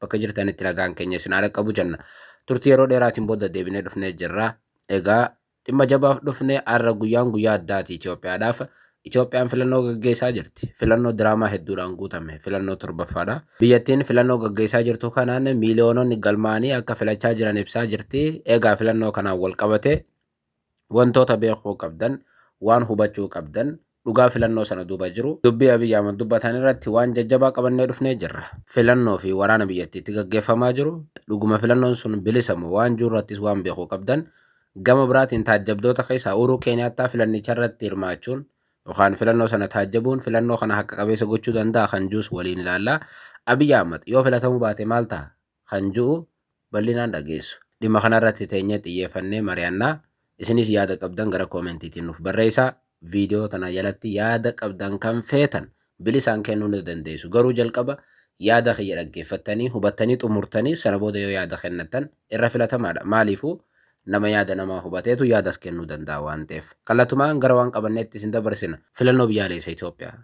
bakka jirtanitti nagaan keenya isin haa dhaqqabu jenna. Turtii yeroo dheeraatiin booda deebinee dhufnee jirra. Egaa dhimma jabaaf dhufne har'a guyyaan guyyaa addaati Itoophiyaadhaaf. Itoophiyaan filannoo gaggeessaa jirti. Filannoo diraamaa hedduudhaan guutame. Filannoo torbaffaadha. Biyyattiin filannoo gaggeessaa jirtu kanaan miiliyoononni galmaa'anii akka filachaa jiran ibsaa jirti. Egaa filannoo kanaan wal qabatee wantoota beekuu qabdan, waan hubachuu qabdan, dhugaa filannoo sana duuba jiru, dubbii Abiy Ahmad dubbatan irratti waan jajjabaa qabannee dhufnee jirra. Filannoo fi waraana biyyattiitti gaggeeffamaa jiru, dhuguma filannoon sun bilisa moo waan jiru irrattis waan beekuu qabdan, gama biraatiin taajjabdoota keessaa Uhuruu Keeniyaattaa filannicha irratti hirmaachuun yookaan filannoo sana taajjabuun filannoo kana haqa qabeessa gochuu danda'a kan jius waliin ilaalla. Abiy Ahmad yoo filatamuu baate maal taha? kan ju'u bal'inaan dhageessu. Dhimma kana irratti teenyee xiyyeeffannee mari'anna. Isinis yaada qabdan gara koomentiitiin nuuf barreessaa. Viidiyoo tana jalatti yaada qabdan kan feetan bilisaan kennuu ni dandeessu. Garuu jalqaba yaada kiyya dhaggeeffattanii, hubattanii xumurtanii sana booda yoo yaada kennattan irra filatamaadha. Maaliifuu nama yaada namaa hubateetu yaadas kennuu danda'a waan ta'eef. Kallatumaan gara waan qabanneetti isin dabarsina. Filannoo Biyyaaleessa Itoophiyaa.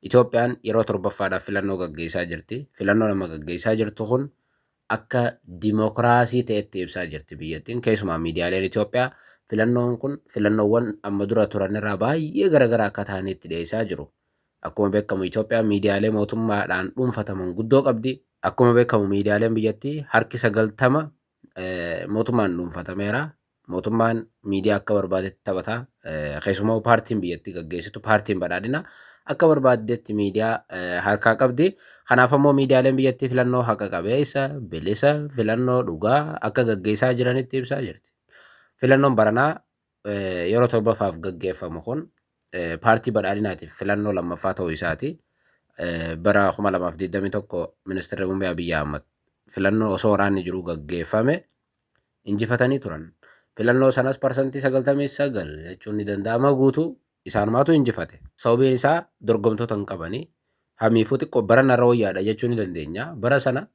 Itoophiyaan yeroo torbaffaadhaaf filannoo gaggeessaa jirti. Filannoon amma gaggeessaa jirtu kun akka dimokiraasii ta'etti ibsaa jirti biyyattiin. Keessumaa miidiyaaleen Itoophiyaa filannoon kun filannoowwan amma dura turanirraa baay'ee garaagaraa akka ta'anitti dhiyeessaa jiru. Akkuma beekamu Itoophiyaan miidiyaalee mootummaadhaan dhuunfataman guddoo qabdi. Akkuma beekamu miidiyaaleen biyyattii harki sagaltama mootummaan dhuunfatameera. mootummaan miidiyaa akka barbaadetti taphata. Keessumaa paartiin biyyattii gaggeessitu paartiin badhaadhina akka barbaaddetti miidiyaa harkaa qabdi. Kanaaf ammoo miidiyaaleen biyyattii filannoo haqa qabeessa, bilisa, filannoo dhugaa akka gaggeessaa jiranitti ibsaa jirti. Filannoon baranaa yeroo torbaffaaf gaggeeffamu kun paartii badhaadhinaatiif filannoo lammaffaa ta'uu isaati. Bara 2021 ministeerri muummee Abiyyi Ahmad filannoo osoo waraanni jiru gaggeeffame injifatanii turan. Filannoo sanas parsantii 99 jechuun ni danda'ama guutuu isaanumaatu injifate. Sababiin isaa dorgomtoota hin qabani. Hamiifuu xiqqoo barana irra wayyaadha jechuu ni dandeenya. Bara sana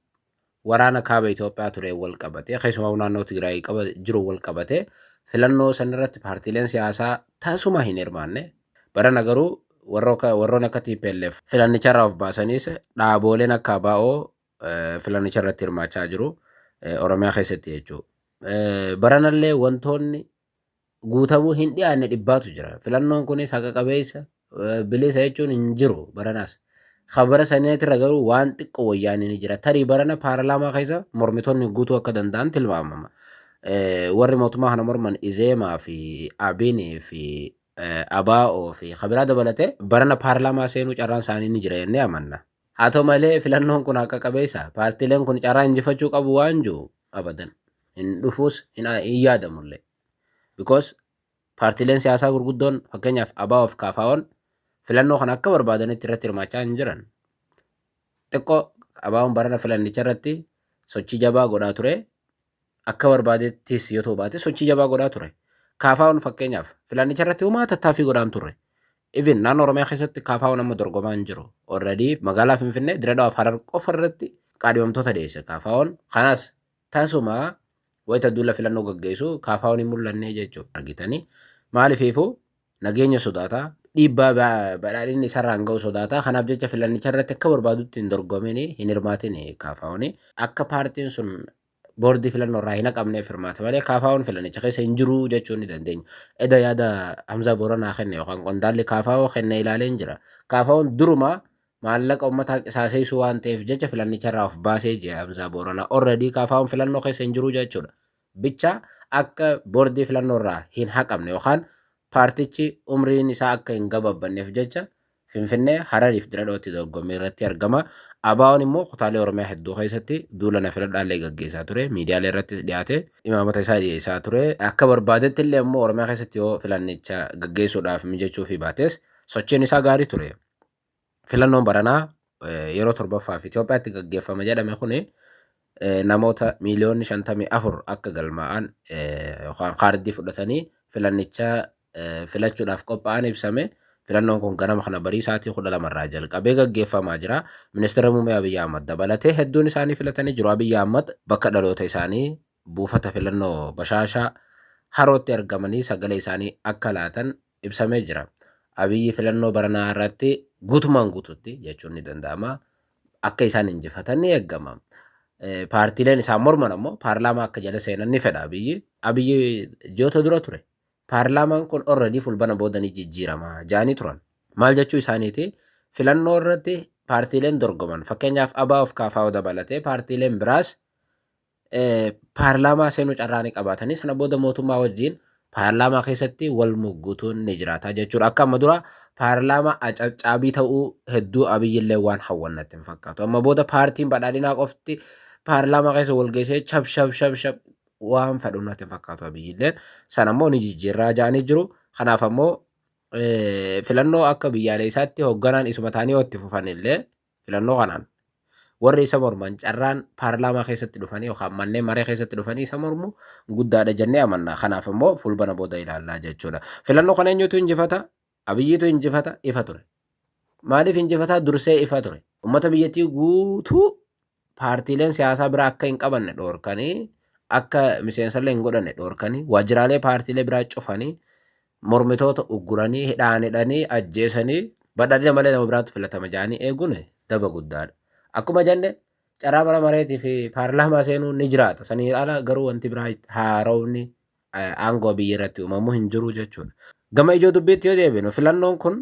waraana kaaba Itoophiyaa tureen wal qabatee keessumaa naannoo Tigraay qaba jiru wal qabatee filannoo sanarratti paartiileen siyaasaa tasuma hin hirmaanne. Barana garuu warroon akka TPLF filannicharraa of baasaniis dhaabooleen akka ABO filannicha irratti hirmaachaa jiru Oromiyaa keessatti jechuudha. Baranallee wantoonni guutamuu hin dhiyaanne dhibbaatu jira. Filannoon kunis haqa qabeessa bilisa jechuun hin jiru baranaas. Kan bara saneetirra garuu waan xiqqoo wayyaanii ni jira. Tarii barana paarlaamaa keessa mormitoonni guutuu akka danda'an tilmaamama. Warri mootummaa kana morman Izeemaa fi Abinii fi Abaa'oo fi Kabiraa dabalatee barana paarlaamaa seenuu carraan isaanii ni jira jennee amanna. Haa ta'u malee filannoon kun haqa qabeessa. Paartiileen kun carraa injifachuu qabu waan jiru abadan. Hin dhufuus hin hin yaadamullee. Because paartiileen siyaasaa gurguddoon fakkeenyaaf abaa of kaafaa'oon filannoo kana akka barbaadanitti irratti hirmaachaa hin jiran. Xiqqoo abaa'oon barana filannicha irratti sochii jabaa godhaa ture. akka barbaadettis yoo ta'u baate sochii jabaa godhaa ture. Kaafaa'oon fakkeenyaaf filannicha irratti homaa tattaaffii godhaan turre. Even naannoo Oromiyaa keessatti kaafaa'oon amma dorgomaa hin jiru. Already magaalaa Finfinnee Diradawa fi Harar qofa irratti qaadhimamtoota dhiyeesse kaafaa'oon. Kanas tasuma wayita duula filannoo gaggeessu kaafaa'oon hin mul'anne jechuudha argitanii. Maalifiifuu Nageenya sodaata. Dhiibbaa ba- badhaadhinni isarraan ga'u sodaata. Kanaaf jecha filannicha irratti akka barbaadutti hin dorgomin, hin hirmaatin kaafaa'uun. Akka paartiin sun boordii filannoo irraa hin haqamneef hirmaate malee kaafaa'uun filannicha keessa hin jiru jechuu ni dandeenya. Eda yaada Hamzaa Booranaa kenne yookaan qondaalli kaafaa'oo kenne ilaaleen jira. Kaafaa'oon duruma maallaqa uummataa qisaaseessuu waan ta'eef jecha filannicha irraa of baasee jira Hamzaa Booranaa. Already kaafaa'oon filannoo keessa hin jiru jechuudha. bicha akka boordii filannoo irraa hin haqamne yookaan paartichi umriin isaa akka hin gababbanneef jecha Finfinnee, Hararii fi Diradhootti dorgommii irratti argama. ABOn immoo kutaalee Oromiyaa hedduu keessatti duula na filadhaa illee gaggeessaa ture. Miidiyaalee irrattis dhiyaate imaamata isaa dhiyeessaa ture. Akka barbaadetti illee immoo Oromiyaa keessatti yoo filannicha gaggeessuudhaaf mijachuufii baates sochiin isaa gaarii ture. Filannoon baranaa yeroo torbaffaaf Itoophiyaatti gaggeeffama jedhame kun namoota miiliyoonni 54 akka galmaa'an yookaan kaardii fudhatanii filannichaa filachuudhaaf qophaa'an ibsame. Filannoon kun ganama kana barii sa'aatii 12 irraa jalqabee gaggeeffamaa jira. Ministeera Muummee Abiyyi Ahmad dabalatee hedduun isaanii filatanii jiru. Abiyyi Ahmad bakka dhaloota isaanii buufata filannoo bashaashaa harootti argamanii sagalee isaanii akka laatan ibsamee jira. Abiyyi filannoo baranaa irratti guutumaan guututti jechuun ni danda'ama. Akka isaan injifatan ni eegama. Paartiileen isaan morman ammoo paarlaamaa akka jala seenan ni fedha Abiyyi. Abiyyi ji'oota dura ture. Paarlaamaan kun orredii fulbana booda ni jijjiirama jaanii turan. Maal jechuu isaaniiti? Filannoo irratti paartiileen dorgoman fakkeenyaaf ABOf KFO dabalatee paartiileen biraas paarlaamaa seenuu carraa ni qabaatanii sana booda mootummaa wajjin paarlaamaa keessatti wal muggutuun ni jiraata jechuudha. Akka amma dura paarlaamaa acabcaabii ta'uu hedduu abiyyillee waan hawwannatti hin fakkaatu. Amma booda paartiin badhaadhinaa qofti paarlaamaa keessa wal geessee shab shab shab shab waan fedhu natti hin fakkaatu abiyyilleen. Sana immoo ni jijjiirraa ja'anii jiru. Kanaaf ammoo filannoo akka biyyaaleessaatti hoogganaan isuma ta'anii yoo itti fufanillee Filannoo kanaan warri isa morman carraan paarlaamaa keessatti dhufanii yookaan manneen maree keessatti dhufanii isa mormu guddaadha jennee amanna. Kanaaf immoo fulbana booda ilaallaa jechuudha. Filannoo kana eenyutu injifata? Abiyyiitu injifata ifa ture. Maaliif injifataa dursee ifa ture? Uummata biyyattii guutuu paartiileen siyaasaa biraa akka hin qabanne dhoorkanii akka miseensallee hin godhanne dhoorkanii waajjiraalee paartiilee biraa cufanii mormitoota ugguranii, hidhaan hidhanii, ajjeesanii badhaadhina malee nama biraatu filatama jedhanii eeguun daba guddaadha. Akkuma jenne carraa mana mareetii fi paarlaamaa seenuun ni jiraata. Saniin ala garuu wanti biraa haaromni aangoo biyya irratti uumamu hin jiru jechuudha. Gama ijoo dubbiitti yoo deebinu filannoon kun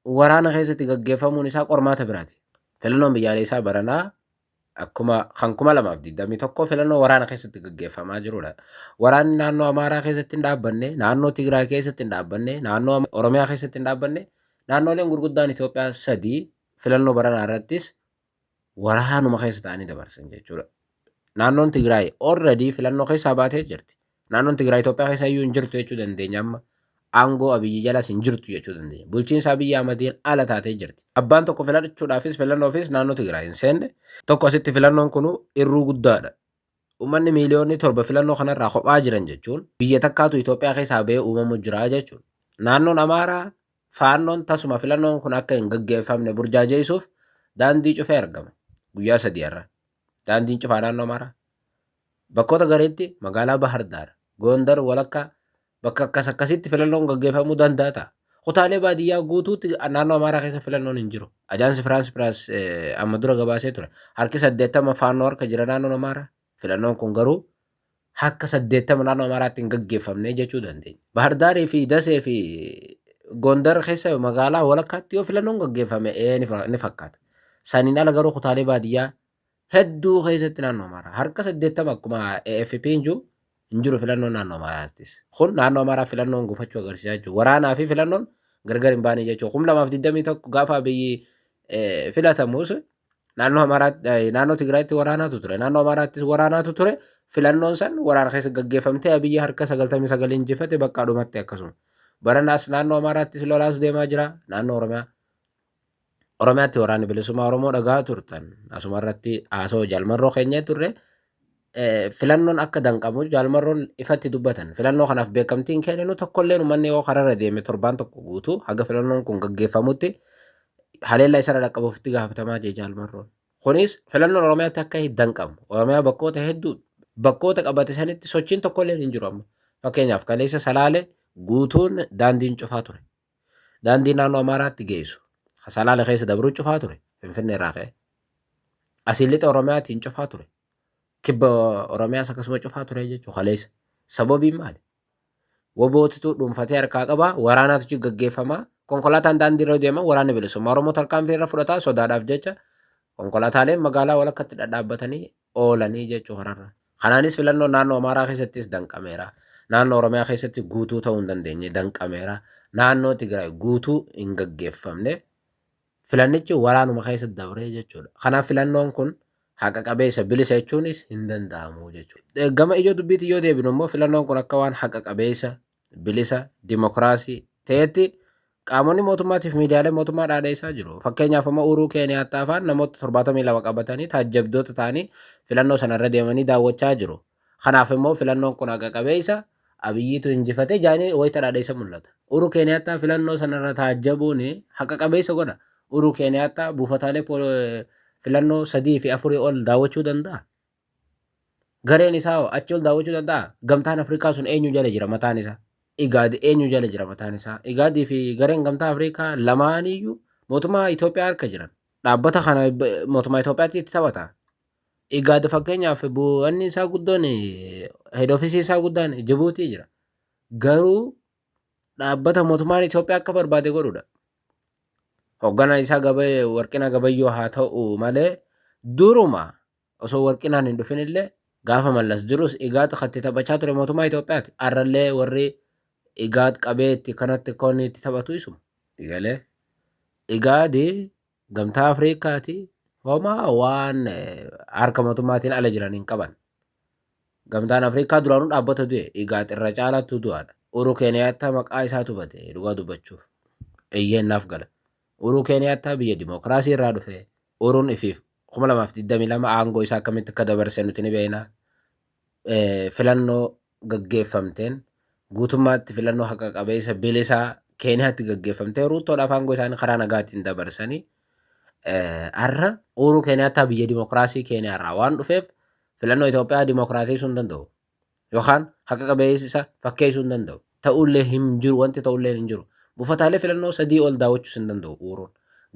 waraana keessatti gaggeeffamuun isaa qormaata biraati. Filannoon biyyaaleessaa baranaa akkuma kan 2021 filannoo waraana keessatti gaggeeffamaa jirudha. Waraanni naannoo Amaaraa keessatti hin dhaabbanne, naannoo Tigraay keessatti hin dhaabbanne, naannoo Oromiyaa keessatti hin dhaabbanne, naannoleen gurguddaan Itoophiyaa sadii filannoo baranaa irrattis waraanuma keessa ta'anii dabarsan jechuudha. Naannoon Tigraay already filannoo keessaa baatee jirti. Naannoon Tigraay Itoophiyaa keessa iyyuu hin jirtu jechuu dandeenya amma. Aangoo Abiyyi jalas hin jirtu jechuu dandeenya. Bulchiinsa Abiyyi Ahmadiin ala taatee jirti. Abbaan tokko filachuudhaafis filannoofis naannoo Tigraay hin seenne. Tokko asitti filannoon kun irruu guddaadha. Uummanni miiliyoonni torba filannoo kanarraa kophaa jiran jechuun biyya takkaatu Itoophiyaa keessaa ba'ee uumamu jira jechuudha. Naannoon Amaaraa faannoon tasuma filannoon kun akka hin gaggeeffamne burjaajeessuuf daandii cufee argama. Guyyaa sadii har'a. Daandiin cufaa naannoo Amaaraa. Bakkoota gariitti magaalaa Bahar Daar, Gondar walakkaa bakka akkas akkasitti filannoon gaggeeffamuu danda'a ta'a. Kutaalee baadiyyaa guutuutti naannoo Amaaraa keessa filannoon hin jiru. Ajaansi Firaansi Piraas amma dura gabaasee ture. Harki saddeettama faannoo harka jira naannoon Amaaraa. Filannoon kun garuu harka 80 naannoo Amaaraatti hin gaggeeffamne jechuu dandeenya. Bahar Daarii fi Dasee fi Gondar keessa magaalaa walakkaatti yoo filannoon gaggeeffame ee ni fa- ni fakkaata. Saniin ala garuu kutaalee baadiyyaa hedduu keessatti naannoo Amaaraa harka 80 akkuma AFP hin jiru hin jiru filannoon naannoo Amaaraattis. Kun naannoo Amaaraa filannoon gufachuu agarsiisaa jechuudha. Waraanaa fi filannoon gargar hin baane jechuudha. 2021 gaafa biyyi eh, filatamus Naannoo Amaaraatti naannoo Tigraayitti waraanaatu ture. Naannoo Amaaraattis waraanaatu ture. Filannoon san waraana keessa gaggeeffamtee Abiyyi harka 99 injifate bakka dhumatti akkasuma. Baranaas naannoo Amaaraattis lolaatu deemaa jira. Naannoo Oromiyaa Oromiyaatti waraanni bilisummaa Oromoo dhagaa turtan. Asuma irratti haasoo jalmarroo keenyee turre. filannoon akka danqamu Jaal Marroon ifatti dubbatan. Filannoo kanaaf beekamtii hin kenninu tokkolleen uummanni yoo kararra deeme torbaan tokko guutuu haga filannoon kun gaggeeffamutti haleellaa isarra dhaqqabuuf itti gaafatamaa jee Jaal Marroon. Kunis filannoon Oromiyaatti akka hin danqamu. Oromiyaa bakkoota hedduu bakkoota qabate sanitti sochiin tokkolleen hin jiru amma. Fakkeenyaaf kaleessa Salaale guutuun daandiin cufaa ture. Daandii naannoo Amaaraatti geessu ka Salaale keessa dabruu cufaa ture Finfinnee irraa ka'e. Asiin lixa Oromiyaatiin cufaa ture. Kibba Oromiyaas akkasuma cufaa ture jechuun kaleessa. Sababiin maali? Wabootitu dhuunfatee harkaa qabaa, waraanaatu achi gaggeeffamaa, konkolaataan daandii irra deema, waraanni bilisummaa Oromoo tarkaanfii irra fudhataa sodaadhaaf jecha konkolaataaleen magaalaa walakkatti dhadhaabbatanii oolanii jechuu kanarra. Kanaanis filannoon naannoo Amaaraa keessattis danqameera. Naannoo Oromiyaa keessatti guutuu ta'uu hin dandeenye danqameera. Naannoo Tigraay guutuu hin gaggeeffamne. Filannichi waraanuma keessa dabree jechuudha. Kanaaf filannoon kun haqa qabeessa bilisa jechuunis hin danda'amu jechuudha. Gama ijoo dubbiitiin yoo deebinu immoo filannoon kun akka waan haqa qabeessa bilisa, dimokiraasii ta'etti qaamonni mootummaatiif miidiyaalee mootummaa dhaadheessaa jiru. Fakkeenyaaf amma Uuruu Keeniyaattaa afaan namoota 72 qabatanii taajjabdoota ta'anii filannoo sana irra deemanii daawwachaa jiru. Kanaaf immoo filannoon kun haqa qabeessa Abiyyiitu injifate jaanii wayita dhaadheessa mul'ata. Uuruu Keeniyaattaa filannoo sana irra taajjabuun haqa qabeessa godha. Uuruu Keeniyaattaa buufataalee filannoo sadii fi afurii ol daawwachuu danda'a. Gareen isaa hoo achi ol daawwachuu danda'a? Gamtaan Afrikaa sun eenyu jala jira mataan isaa? Igaad eenyu jala jira mataan isaa? Igaadii fi gareen gamtaa Afrikaa lamaaniyyuu mootummaa Itoophiyaa harka jiran. Dhaabbata kana mootummaa Itoophiyaatti itti taphata. Igaad fakkeenyaaf bu'anni isaa guddoon heed ofisii isaa guddaan Jibuutii jira. Garuu dhaabbata mootummaan Itoophiyaa akka barbaade godhudha. Hoogganaan isaa Warqina Gabayyoo haa ta'u malee duruma Osoo Warqinaan hin dhufin illee gaafa Mallas jirus Igaad kan itti taphachaa ture mootummaa Itoophiyaati. Har'allee warri Igaad qabee itti kanatti koonni itti taphatu isuma. Galee Igaadi gamtaa Afriikaati homaa waan eh, harka mootummaatiin ala jiran hin qaban. Gamtaan Afriikaa duraanuu dhaabbata du'e Igaad irra caalaattuu du'aadha. Uruu Keeniyaattaa maqaa isaatu bade dhugaa dubbachuuf. Eeyyeen naaf gala. Uruu Keeniyaattaa biyya dimookiraasii irraa dhufe. Uruun ifiif 2022 aangoo isaa akkamitti akka dabarse nuti ni beekna. Filannoo gaggeeffamteen guutummaatti filannoo haqa qabeessa bilisaa Keeniyaatti gaggeeffamtee Ruuttoodhaaf aangoo isaanii karaa nagaatiin dabarsanii har'a Uuruu Keeniyaattaa biyya dimokiraasii Keeniyaarraa waan dhufeef filannoo Itoophiyaa dimokiraatessuu hin danda'u. yookaan haqa qabeessi isa fakkeessuu hin danda'u. Ta'ullee hin jiru wanti ta'ullee hin jiru. Buufataalee filannoo sadii ol daawwachuus hin danda'u Uuruun.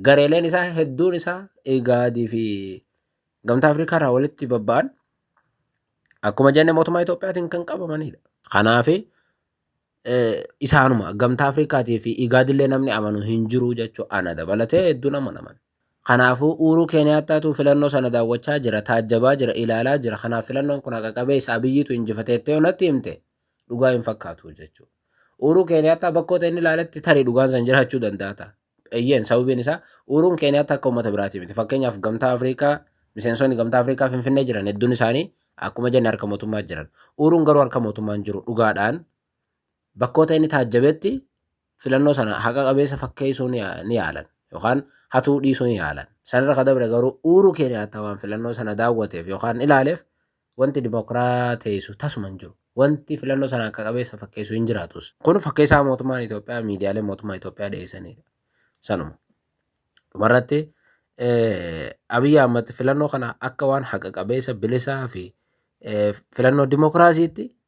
Gareeleen isaa hedduun isaa Igaadii fi Gamtaa Afrikaa irraa walitti babba'an akkuma jenne mootummaa Itoophiyaatiin kan qabamanidha. Kanaaf isaanuma gamtaa Afrikaatii fi igaadillee namni amanu hin jiru jechuu ana dabalatee hedduu nama naman. Kanaafuu uuruu Keeniyaataatuu filannoo sana daawwachaa jira, taajjabaa jira, ilaalaa jira. Kanaaf filannoon kun haqa qabeessa abiyyiitu injifateettee yoo natti himte dhugaa hin fakkaatu jechuudha. Uuruu Keeniyaataa bakkoota inni ilaaletti tarii dhugaan san jiraachuu danda'a ta'a. Eeyyeen sababiin isaa Uhuruun Keeniyaatti akka uummata biraatii miti. Fakkeenyaaf gamtaa Afrikaa miseensonni gamtaa Afrikaa Finfinnee jiran hedduun isaanii akkuma jenne harka mootummaa jiran. Uhuruun garuu harka mootummaa hin jiru dhugaadhaan bakkoota inni taajjabetti filannoo sana haqa qabeessa fakkeessuu ni ni yaalan yookaan hatuu dhiisuu ni yaalan. Sanarra ka dabre garuu Uhuuruu Keeniyaattaa waan filannoo sana daawwateef yookaan ilaaleef Wanti dimokiraateessu tasuma hin jiru. Wanti filannoo sana haqa qabeessa fakkeessu hin jiraatus. Kun fakkeessaa mootummaan Itoophiyaa miidiyaaleen mootummaa Itoophiyaa dhiyeessanidha. Sanuma. Dhumarratti Abiy Ahmad filannoo kana akka waan haqa qabeessa, bilisaa fi filannoo dimokiraasiitti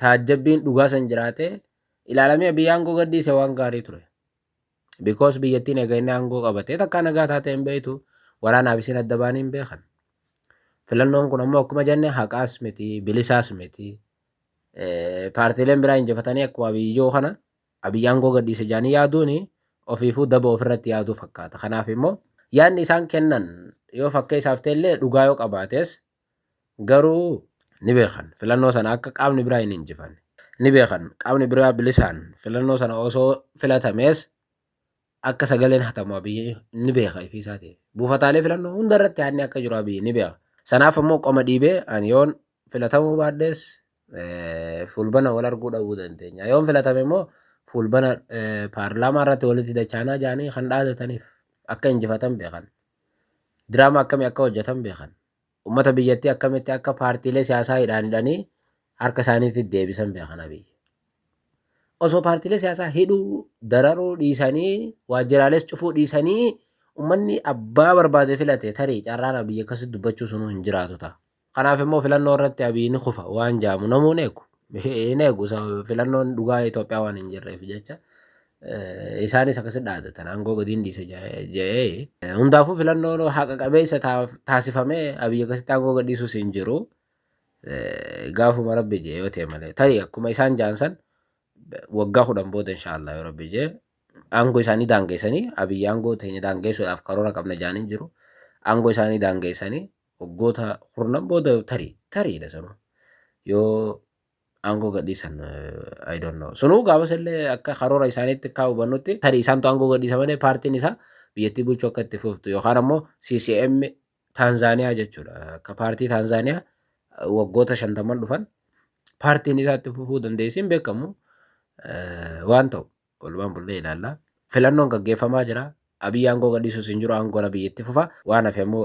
taajjabbiin dhugaa san jiraate ilaalamee biyya aangoo gadhiise waan gaarii ture. Bikoos biyyattii nagaa inni aangoo qabatee takkaa nagaa taatee hin beektu waraanaaf isin adda baanii hin beekan. Filannoon kun ammoo akkuma jenne haqaas miti bilisaas miti. Paartiileen biraa injifatanii akkuma biyyoo kana abiyyi aangoo gadhiise jaanii yaaduun ofiifuu daba ofirratti yaaduu fakkaata. Kanaaf immoo yaadni isaan kennan yoo fakkee isaaf ta'ellee dhugaa yoo qabaates Garuu ni beekan filannoo sana akka qaamni biraa hin injifanne. Ni beekan qaamni biraa bilisaan filannoo sana osoo filatamees akka sagaleen hatamu Abiyyi ni beeka ifii isaati. Buufataalee filannoo hunda irratti haadni akka jiru Abiyyi ni beeka. Sanaaf ammoo qoma dhiibee ani yoon filatamuu baadhees fuulbana wal arguu dhabuu dandeenya. Yoon filatame immoo fuulbana paarlaamaa irratti walitti dachaanaa jaanii kan dhaadataniif akka injifatan beekan. Diraamaa akkamii akka hojjetan beekan. Ummata biyyattii akkamitti akka paartiilee siyaasaa hidhaan hidhanii harka isaaniitti deebisan beekan Abiy. Osoo paartiilee siyaasaa hidhuu, dararuu dhiisanii, waajjiraalees cufuu dhiisanii ummanni abbaa barbaade filate tarii carraan Abiy akkasitti dubbachuu sunuu hin jiraatu ta'a. Kanaaf immoo filannoo irratti Abiy ni kufa waan jaamu namuu hin eegu. Hin eegu filannoon dhugaa Itoophiyaa waan hin jirreef jecha isaanis akkasi dhaadatan aangoo gadiin dhiisa jedhee. Hundaafuu filannoon haqa qabeessa taasifamee Abiy akkasitti aangoo gadhiisuus hin jiru. Gaafuma rabbi jee yoo ta'e malee tarii akkuma isaan jaansan waggaa kudhan booda inshaallah yoo rabbi jee aangoo isaanii daangeessanii Abiy aangoo teenya daangeessuudhaaf karoora qabna jaanii jiru. Aangoo isaanii daangeessanii Waggoota kurnan booda tarii tariidha sanu yoo aangoo gadhiisan I don't know. Sunuu gaafas illee akka karoora isaaniitti akka hubannutti tarii isaantu aangoo gadhiisa malee paartiin isaa biyyattii bulchuu akka itti fuftu yookaan ammoo CCM Taanzaaniyaa jechuudha. Akka paartii Taanzaaniyaa waggoota shantamman dhufan paartiin isaa itti fufuu dandeessi hin beekamu waan ta'u walumaan bullee ilaalla. Filannoon gaggeeffamaa jira. Abiyyi aangoo gadhiisuus hin jiru aangoon abiyyi itti fufa waan hafe ammoo